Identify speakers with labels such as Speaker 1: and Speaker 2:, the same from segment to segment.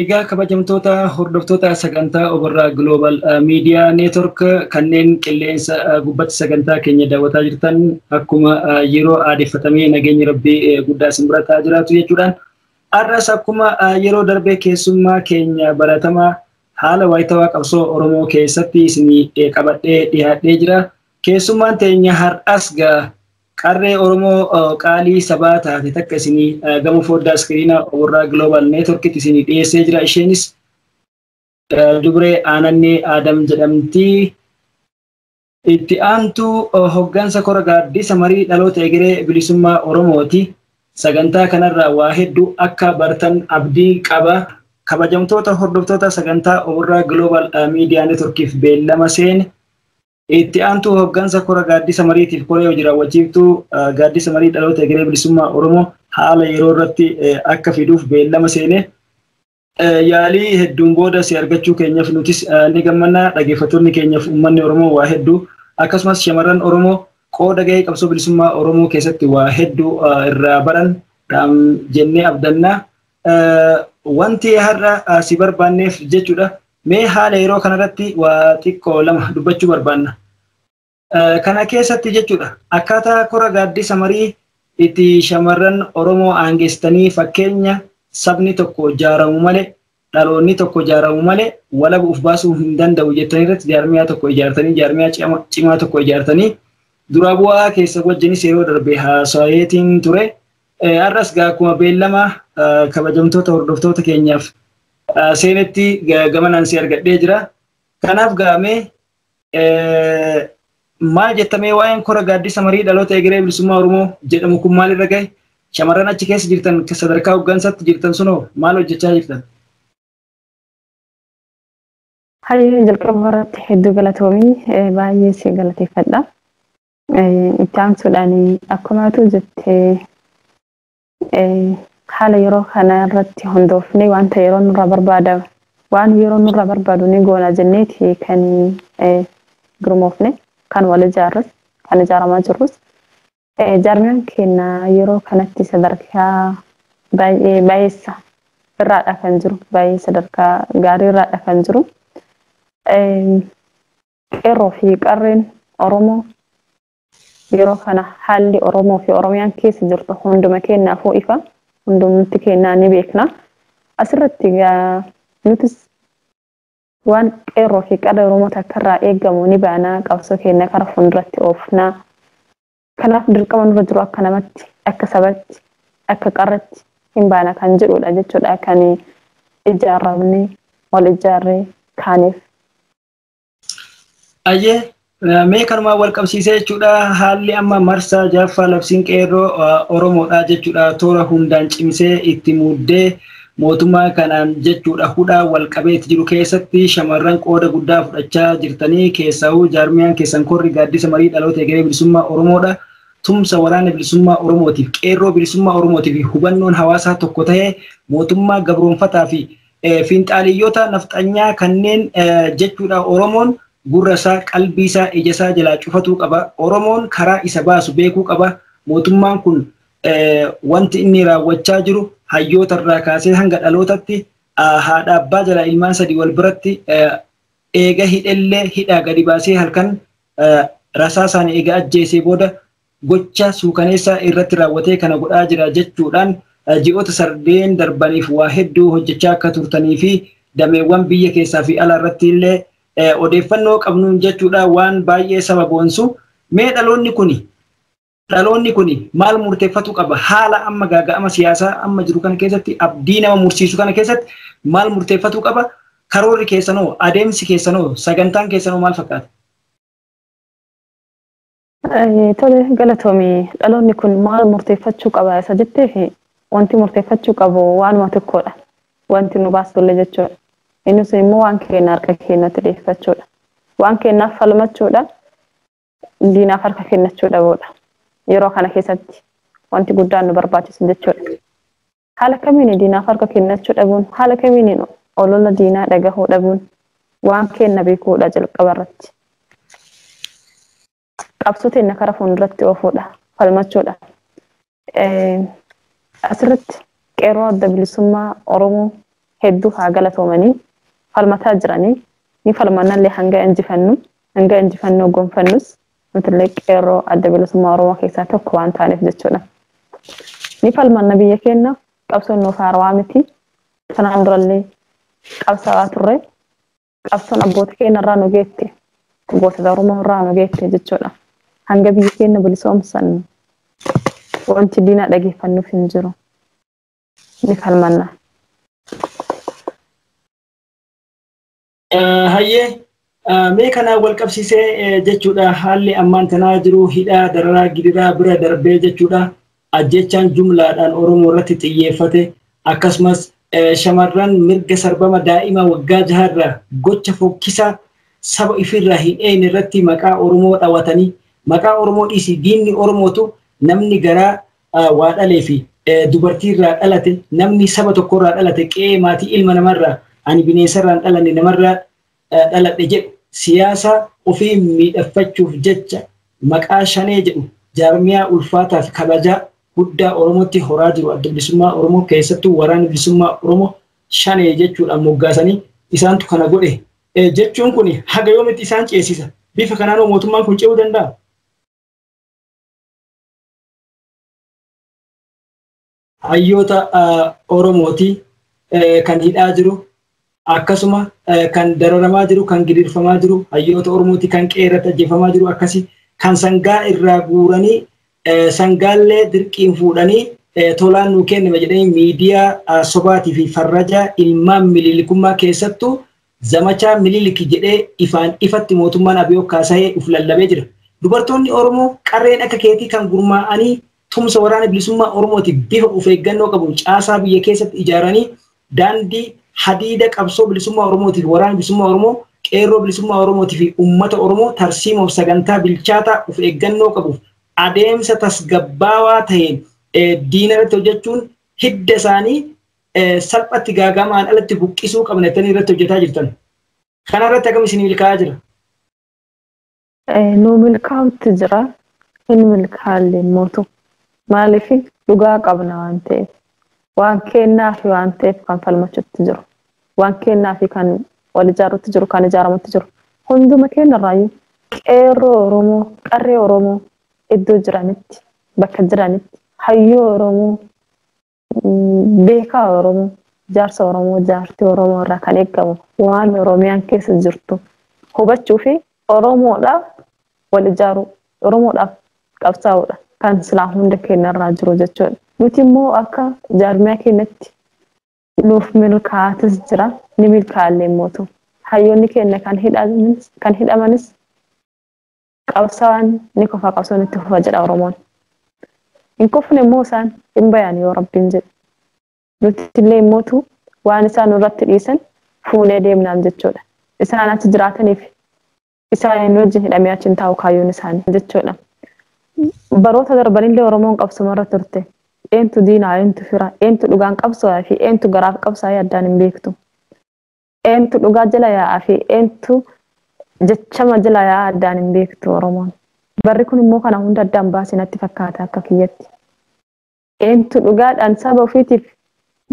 Speaker 1: Egaa kabajamtoota hordoftoota sagantaa Oborraa Global Media Network kanneen qilleensa gubbatti sagantaa keenya daawwataa jirtan akkuma yeroo aadeffatamee nageenyi rabbii guddaa isin bira ta'aa jiraatu jechuudhaan har'as akkuma yeroo darbee keessummaa keenya baratamaa haala waayitawaa qabsoo Oromoo keessatti isin qabadhee dhiyaadhee jira. Keessummaan teenya har'as gaa Qarree Oromoo qaalii sabaa taate takka isinii gama fooddaa iskiriina Oborraa Global Networkitti isinii dhiyeessee jira. Isheenis dubree Aanannee Aadam jedhamti. Itti aantuu hoggansa kora gaaddisa marii dhaloota egeree bilisummaa Oromooti. Sagantaa kanarraa waa hedduu akka bartan abdii qaba. Kabajamtoota hordoftoota sagantaa Oborraa Global Media Networkiif beellama seene Itti aantuu hooggansa kora gaaddisa mariitiif koree hojii raawwachiiftuu gaaddisa marii dhaloota egeree bilisummaa Oromoo haala yeroo irratti akka fiduuf beellama seenee yaalii hedduun booda si argachuu keenyaaf nutis ni gammanna dhaggeeffattoonni keenyaaf uummanni Oromoo waa hedduu akkasumas shamarran Oromoo qooda gahee qabsoo bilisummaa Oromoo keessatti waa hedduu irraa baran jennee abdanna Wanti har'a si barbaanneef jechuudha. Mee haala yeroo kanarratti waa xiqqoo lama dubbachuu barbaanna. Kana keessatti jechuudha akkaataa kora gaaddisa marii itti shamarran Oromoo aangessitanii fakkeenya sabni tokko jaaramu malee dhaloonni tokko jaaramu malee walaba of baasuu hin danda'u jettanii irratti jaarmiyaa tokko ijaartanii jaarmiyaa cimaa tokko ijaartanii duraa bu'aa keessa wajjinis yeroo darbe haasayeetiin ture Har'as gaa akkuma beellama kabajamtoota hordoftoota keenyaaf seenetti gamanaan si argadhee jira. Kanaaf gaamee maal jettamee waa'een kora gaaddisa marii dhaloota egeree bilisummaa Oromoo jedhamu kun maalirra gahe? Shamarran achi keessa jirtan sadarkaa hooggansaatti jirtan sunoo maal hojjechaa jirtan?
Speaker 2: Hayyee jalqaba irratti hedduu galatoomii baay'ee si galateeffadha. Itti aansuudhaan akkuma atuu jette haala yeroo kana irratti hundoofnee wanta yeroo nurraa barbaada waan yeroo nurraa barbaadu ni goona jenneeti kan gurmoofne kan wal ijaarres kan ijaaramaa jirrus. Jaarmiyaan keenya yeroo kanatti sadarkaa baay'ee baay'eessa irraadha kan jiru baay'ee sadarkaa gaarii irraadha kan jiru. Qeerroo fi Qarreen Oromoo yeroo kana haalli Oromoo fi Oromiyaan keessa jirtu hunduma keennaafuu ifa, hundumti keennaa ni beekna. Asirratti egaa nutis waan Qeerroo fi Qarree Oromoo takkarraa eegamu ni baana, qabsoo keenna kara fuulduratti oofna. Kanaaf dirqama nurra jiru akka namatti, akka sabatti, akka qarretti hin baana kan jedhuudha jechuudha kan ijaarramnee, wal ijaarree kaaneef.
Speaker 1: Ayyee mee kanumaan wal qabsiisee jechuudha haalli amma marsaa jaaffaa labsiin qeerroo Oromoodha jechuudha toora hundaan cimsee itti muddee mootummaa kanaan jechuudha hudhaa wal qabeetti jiru keessatti shamarran qooda guddaa fudhachaa jirtanii keessaahuu jaarmiyaan keessan korri gaaddisa marii dhaloota egeree bilisummaa Oromoodha. Tumsa waraana bilisummaa Oromootiif qeerroo bilisummaa Oromootiif hubannoon hawaasaa tokko ta'ee mootummaa gabroonfataa fi Finxaaleyyota nafxanyaa kanneen jechuudha Oromoon gurra isaa, qalbii isaa, ija isaa jalaa cufatuu qaba. Oromoon karaa isa baasu beekuu qaba. Mootummaan kun wanti inni raawwachaa jiru hayyoota irraa kaasee hanga dhalootatti haadha abbaa jalaa ilmaan sadii wal biratti eega hidhellee hidhaa gadi baasee halkan rasaasaan eega ajjeesee booda gocha suukaneessaa irratti raawwatee kana godhaa jira jechuudhaan ji'oota sardeen darbaniif waa hedduu hojjechaa akka turtanii fi dameewwan biyya keessaa fi alaa irratti illee odeeffannoo qabnuun jechuudhaan waan baay'ee saba boonsu mee dhaloonni kuni dhaloonni kuni maal murteeffatu qaba haala amma gaaga'ama siyaasaa amma jiru kana keessatti abdii nama mursiisu kana keessatti maal murteeffatu qaba karoorri keessanoo adeemsi keessanoo sagantaan keessanoo maal fakkaata?
Speaker 2: Tole galatoomi dhaloonni kun maal murteeffachuu qaba isa jetteef wanti murteeffachuu qabu waanuma tokkodha. Wanti nu baasullee jechuudha. Inni sun immoo waan keenya harka keenyatti deeffachuudha. Waan keenyaaf falmachuudha. Diinaaf harka kennachuu dhabuudha. Yeroo kana keessatti wanti guddaan nu barbaachisu jechuudha. Haala kamiini diinaaf harka kennachuu dhabuun, haala kamiini olola diinaa dhagahuu dhabuun waan keenna beekuudha jalqaba irratti. Qabsoo teenna kara fuunduratti oofuudha, falmachuudha. Asirratti qeerroo adda bilisummaa Oromoo hedduu haa galatoomanii falmataa jiranii ni falmannallee hanga injifannu hanga injifannoo gonfannus Nutillee Qeerroo Adda Bilisummaa Oromoo keessaa tokko waan taaneef jechuudha. Ni falmanna biyya keenyaaf, qabsoon nuuf haarawaa miti. Kanaan durallee qabsaawaa turre. Qabsoon abboota keenya irraa nu geette, gootota Oromoo irraa nu geette jechuudha. Hanga biyya keenya bilisoomsannu wanti diinaa dhageeffannuuf hin jiru. Ni falmanna.
Speaker 1: Hayyee mee kanaan wal qabsiisee jechuudha haalli ammaan tanaa jiru hidhaa dararaa gidiraa bira darbee jechuudha ajjechaan jumlaadhaan Oromoo irratti xiyyeeffate akkasumas shamarran mirga sarbama daa'ima waggaa jaharra gocha fokkisaa saba ifiirraa hin eeyne irratti maqaa Oromoo dhawatanii maqaa Oromoo dhiisii diinni Oromootu namni garaa waa dhalee fi dubartii irraa dhalate namni saba tokko irraa dhalate qe'ee maatii ilma namarraa ani bineensa irraa hin dhalanne namarraa dhaladhe jedhu siyaasa ofii miidhaffachuuf jecha maqaa shanee jedhu jaarmiyaa ulfaataa fi kabajaa guddaa Oromootti horaa jiru adda bilisummaa Oromoo keessattuu waraana bilisummaa Oromoo shanee jechuudhaan moggaasanii isaantu kana godhe jechuun kun haga yoomitti isaan ceesisa bifa kanaanoo mootummaan kun ce'uu danda'a. hayyoota Oromooti kan hidhaa jiru akkasuma kan dararamaa jiru kan gidirfamaa jiru hayyoota Oromooti kan qe'ee irratti ajjeefamaa jiru akkasi kan sangaa irraa guuranii sangaallee dirqiin fuudhanii tolaan nuu kenname jedhanii miidiyaa sobaatii fi farraja ilmaan miliilikummaa keessattuu Zamachaa Minilik jedhee ifaan ifatti mootummaan Abiyoo kaasahee uf lallabee jira. Dubartoonni Oromoo qarreen akka keetii kan gurmaa'anii tumsa Waraana Bilisummaa Oromootiif bifa uf eeggannoo qabuun caasaa biyya keessatti ijaaranii daandii hadiida qabsoo bilisummaa Oromootiif Waraana Bilisummaa Oromoo, Qeerroo Bilisummaa Oromootiifi Ummata Oromoo tarsiimoof sagantaa bilchaataa uf eeggannoo qabuuf adeemsa tasgabbaawaa taheen diinarratti hojjachuun hidda isaanii salphatti gaaga'amaan alatti buqqisuu qabna jettanii irratti hojjetaa jirtan. Kana irratti akkam isin milkaa'aa jira?
Speaker 2: Nu milkaa'utti jira. Hin milkaalle mootu. Maaliif dhugaa qabna waan ta'eef. Waan kennaa fi waan ta'eef kan falmachutti jiru. Waan kennaa fi kan wal ijaarutti jiru, kan ijaaramutti jiru. Hunduma keenya irraayyuu qeerroo Oromoo, qarree Oromoo iddoo jiranitti, bakka jiranitti, hayyoo Oromoo beekaa Oromoo, jaarsa Oromoo, jaartii Oromoo irraa kan eegamu waan Oromiyaan keessa jirtu hubachuu fi Oromoodhaaf wal ijaaruu, Oromoodhaaf qabsaa'uudha kan silaa hunda keenya irraa jiru jechuudha. Nuti immoo akka jaarmiyaa keenyatti nuuf milkaa'atis jira, ni milkaa'allee mootu. Hayyoonni keenya kan hidhamanis Qabsaan ni kufa qabsoon itti fufa jedha Oromoon. Hin kufne immoo isaan hin bayan yoo rabbiin jedhe. Nuti illee immootu waan isaan nurratti dhiisan fuunee deemnaam jechuudha. Isaan achi jiraataniif isaaniin wajjin hidhamee achi hin taa'u kaayyoon isaanii jechuudha. Baroota darbanillee Oromoon qabsumarra turte. Eentu diinaa, eentu fira, eentu dhugaan qabsoo'aa fi eentu garaaf qabsaa'ee addaan hin beektu. Eentu dhugaa jala yaa'aa fi eentu jechama jala yaa'aa addaan hin beektu Oromoon. Barri kun immoo kana hunda addaan baase natti fakkaata akka kiyyatti. Eentu dhugaadhaan saba ofiitiif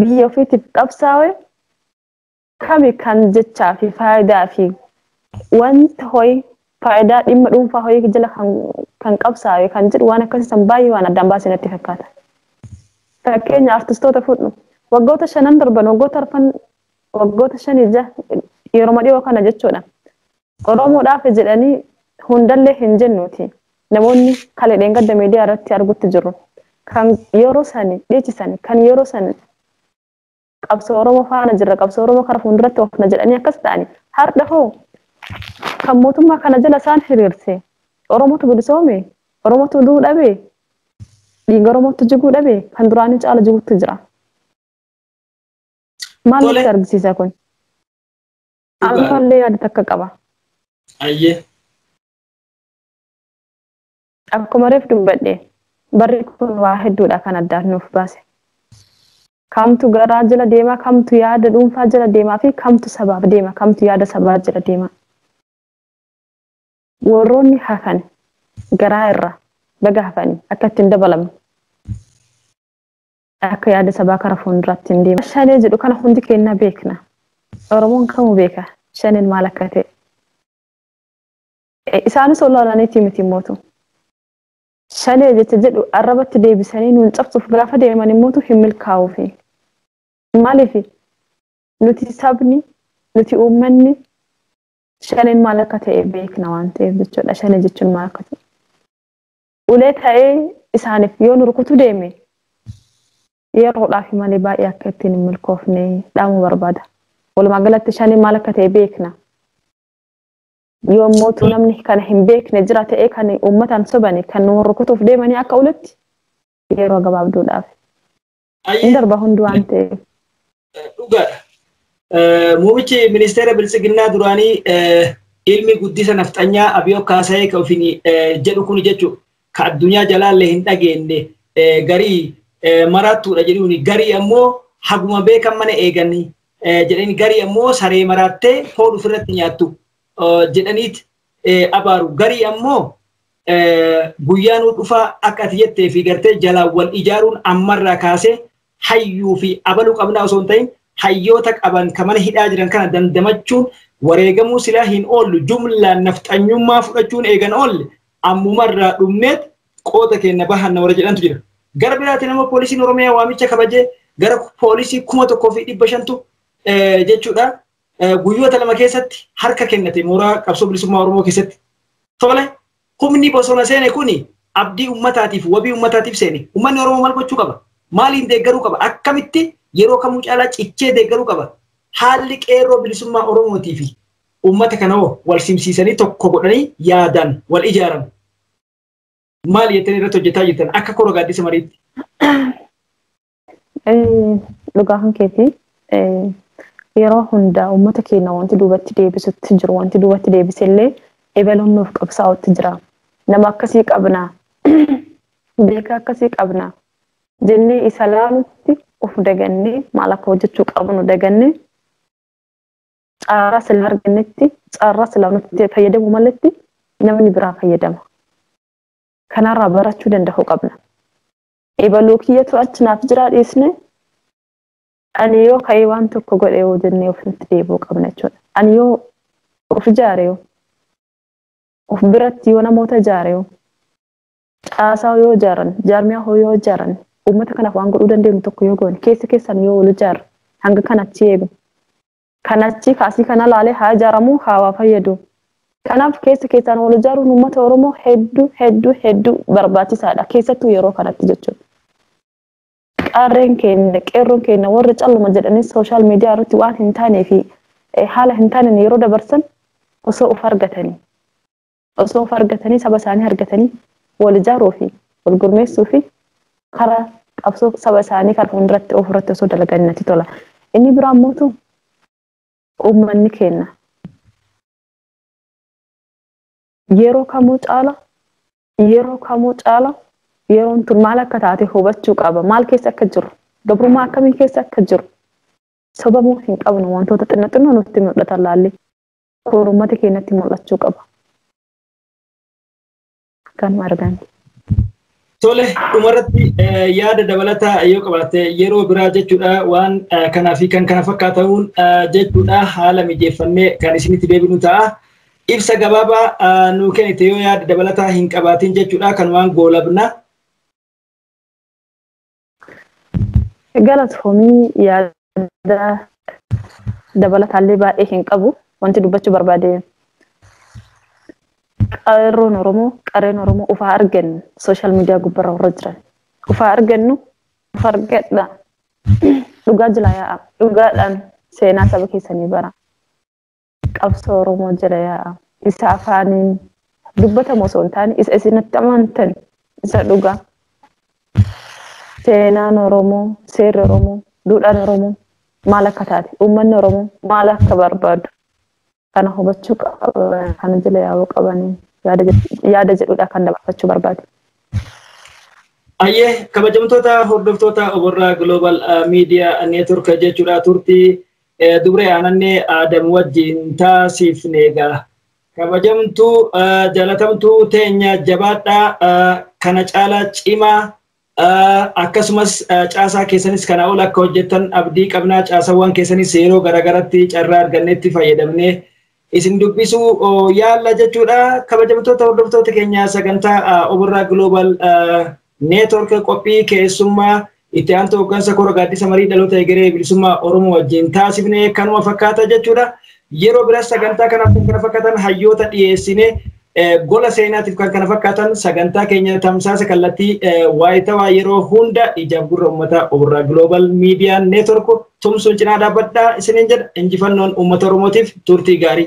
Speaker 2: biyya ofiitiif qabsaawe kami kan jechaa fi faayidaa fi wanta ho'i faayidaa dhimma dhuunfaa ho'i jala kan, kan qabsaawe kan jedhu waan akkasii san baay'ee waan addaan baase natti fakkaata. Fakkeenya artistoota fudhu. Waggoota shanan darban, waggoota arfan waggoota shanii ja yeroma dhiyoo kana jechuudha. Oromoodhaaf jedhanii hundallee hin jennuuti. Namoonni kale dheengadda miidiyaa irratti argutti jiru. Kan yeroo sani dhiichisan, kan yeroo san qabsoo Oromoo faana jirra, qabsoo Oromoo kara fuulduratti oofna jedhanii akkas ta'ani. Har'a hoo kan mootummaa kana jala isaan hiriirse Oromootu bilisoome, Oromootu du'uu dhabe, dhiiga Oromootu jiguu dhabe, kan duraanii caala jiguutti jira. Maal Tole. nutti argisiisa kun? Dhugaadha. Ammallee yaada takka qaba.
Speaker 1: Ayyee.
Speaker 2: Akkuma reef dubbadhe barri kun waa hedduudha kan addaan nuuf baase. Kamtu garaa jala deema, kamtu yaada dhuunfaa jala deemaa fi kamtu sabaaf deema, kamtu yaada sabaa jala deema. Warroonni hafan garaa irraa baga hafanii akka ittiin dabalamne. Akka yaada sabaa kara fuunduraatti hin deemne. Shanee jedhu kana hundi keenya beekna. Oromoon kamuu beeka shaneen maal akka ta'e. Isaanis ololaniitii miti immootu. Shanee jecha jedhu arrabatti deebisanii nuun cabsuuf gaafa deeman immootu hin milkaa'uufi. Maaliif nuti sabni, nuti uummanni shaneen maal akka ta'e beekna waan ta'eef jechuudha. Shanee jechuun maal akka ta'e. ulee ta'ee isaaniif yoo nu rukutu deeme yeroodhaaf malee baay'ee akka ittiin hin milkoofne dhaamuu barbaada. Walumaa galatti shanii maal akka ta'e beekna. Yoo immoo namni kana hin beekne jira ta'ee kan uummataan sobani kan nu rukutuuf deemanii akka uletti yeroo gabaabduudhaaf Hin darba hundi waan ta'eef. Dhugaadha.
Speaker 1: Muumichi ministeera biltsiginnaa duraanii ilmi guddisa nafxanyaa Abiyoo Kaasayee ka ofiin jedhu kun jechuun ka addunyaa jalaallee hin dhageenye garii maraattuudha jedhuun garii ammoo haguma beekan mana eeganii jedhanii garii ammoo saree maraattee foon ofirratti nyaattu jedhaniit abaaru. Garii ammoo guyyaa nu dhufaa akka ati jettee fi gartee jalaan wal ijaaruun ammarraa kaasee hayyuu fi abaluu qabnaa osoo hin ta'in hayyoota qaban ka mana hidhaa jiran kana dandamachuun wareegamuu silaa hin oollu jumlaan nafxanyummaa fudhachuun eegan oolle ammumarraa dhumneet qooda keenya bahanna warra jedhantu jira. Gara biraatiin ammoo poolisiin Oromiyaa waamicha kabajee gara poolisii kuma tokkoo fi dhibba shantu jechuudha guyyoota lama keessatti harka kennate mooraa qabsoo bilisummaa Oromoo keessatti tole humni bosona seene kuni abdii ummataatiif wabii ummataatiif seene ummanni Oromoo maal gochuu qaba maaliin deeggaruu qaba akkamitti yeroo kamuu caalaa cichee deeggaruu qaba haalli qeerroo bilisummaa Oromootii fi ummata kana hoo wal simsiisanii tokko godhanii yaadaan wal ijaaran maal jettanii irratti hojjetaa jirtan akka kora gaaddisa mariitti.
Speaker 2: Dhugaa kan keetii yeroo hundaa uummata keenya wanti duubatti deebisutti jiru wanti duubatti deebisellee ebaluun nuuf qabsaa'utti jira. Nama akkasii qabna beekaa akkasii qabna jennee isa laalutti of dagannee maal akka hojjechuu qabnu dagannee caaraa sila argannetti caaraa sila nutti fayyadamu maletti namni biraa fayyadama. Kanarraa barachuu danda'uu qabna. ebaluu kiyyatu achi naaf jiraa dhiisne ani yoo ka'ee waan tokko godhe yoo jennee ofitti deebi'uu qabna jechuudha. Ani yoo of ijaare yoo of biratti yoo namoota ijaare yoo caasaa yoo ijaaran jaarmiyaa hoo yoo ijaaran uummata kanaaf waan godhuu dandeenyu tokko yoo goone keessa keessan yoo wal ijaarre hanga kanatti eegu Kan achii kaasii kana laalee haa ijaaramu haa waa fayyadu. Kanaaf keessa keessaan wal ijaaruun uummata Oromoo hedduu hedduu hedduu barbaachisaadha. Keessattuu yeroo kanatti jechuudha. Qarreen keenya qeerroon keenya warri calluma jedhanii sooshaal miidiyaa irratti waan hin taanee fi haala hin taaneen yeroo dabarsan osoo of argatanii. Osoo of argatanii saba isaanii argatanii wal ijaaruu fi wal gurmeessuu fi karaa qabsoo saba isaanii kan fuulduratti oofu irratti osoo dalaganii natti tola. Inni biraa mootu uummanni keenya yeroo kamuu caala yeroo kamuu caala yeroon tun maal akka taate hubachuu qaba. Maal keessa akka jiru gabrummaa akkamii keessa akka jiru sobamuu hin qabnu wantoota xinna xinnoo nutti mul'atan laallee. Kun uummata keenyatti mul'achuu qaba. Kanuma argaan.
Speaker 1: Tole dhumarratti yaada dabalataa yoo qabaatte yeroo biraa jechuudha waan kanaa fi kan kana fakkaata'uun jechuudha haala mijeeffannee kan isinitti deebinu ta'a. Ibsa gabaabaa nuu kennite yoo yaada dabalataa hin qabaatin jechuudha kanumaan goolabna.
Speaker 2: Galatoomii yaada dabalataallee baay'ee hin qabu. Wanti dubbachuu barbaade qarroon Oromoo qarreen Oromoo ufaa argannu sooshaal miidiyaa gubbarra warra jiran ufaa argannu ufa argadha dhugaa jilaa yaa'a dhugaadhaan seenaa saba keessanii bara. Qabsoo Oromoo jala yaa'a. Isa afaaniin dubbatamu osoo hin taane isa isin itti amantan isa dhugaa. Seenaan Oromoo, seerri Oromoo, duudhaan Oromoo maal akka taate, uummanni Oromoo maal akka barbaadu kana hubachuu qaba, kana jala yaa'uu qabanii yaada jedhu- yaada jedhudha kan dabarfachuu barbaade. Ayyee
Speaker 1: kabajamtoota hordoftoota Oborraa Global Media Network jechuudha turtii Dubree aanannee Aadam wajjin taasifne gaa. Kabajamtuu jalatamtuu teenya jabaadhaa kana caalaa cimaa akkasumas caasaa keessanis kana ol akka hojjettan abdii qabnaa caasawwan keessanis yeroo garaagaratti carraa argannetti fayyadamnee isin dubbisuu yaalla jechuudha. Kabajamtoota hordoftoota keenya sagantaa Oborraa Global Network qophii keessummaa itti aantuu hooggansa kora gaaddisa marii dhaloota egeree bilisummaa Oromoo wajjin taasifne kanuma fakkaata jechuudha. Yeroo biras sagantaa kana kana fakkatan hayyoota dhiyeessine Gola seenaatiif kan kana fakkaatan sagantaa keenya tamsaasa kallattii waayitawaa yeroo hunda ijaaf gurra uummataa Oborraa Global Media Network tumsuun cinaa dhaabbadhaa isiniin jedha injifannoon uummata Oromootiif turtii gaarii.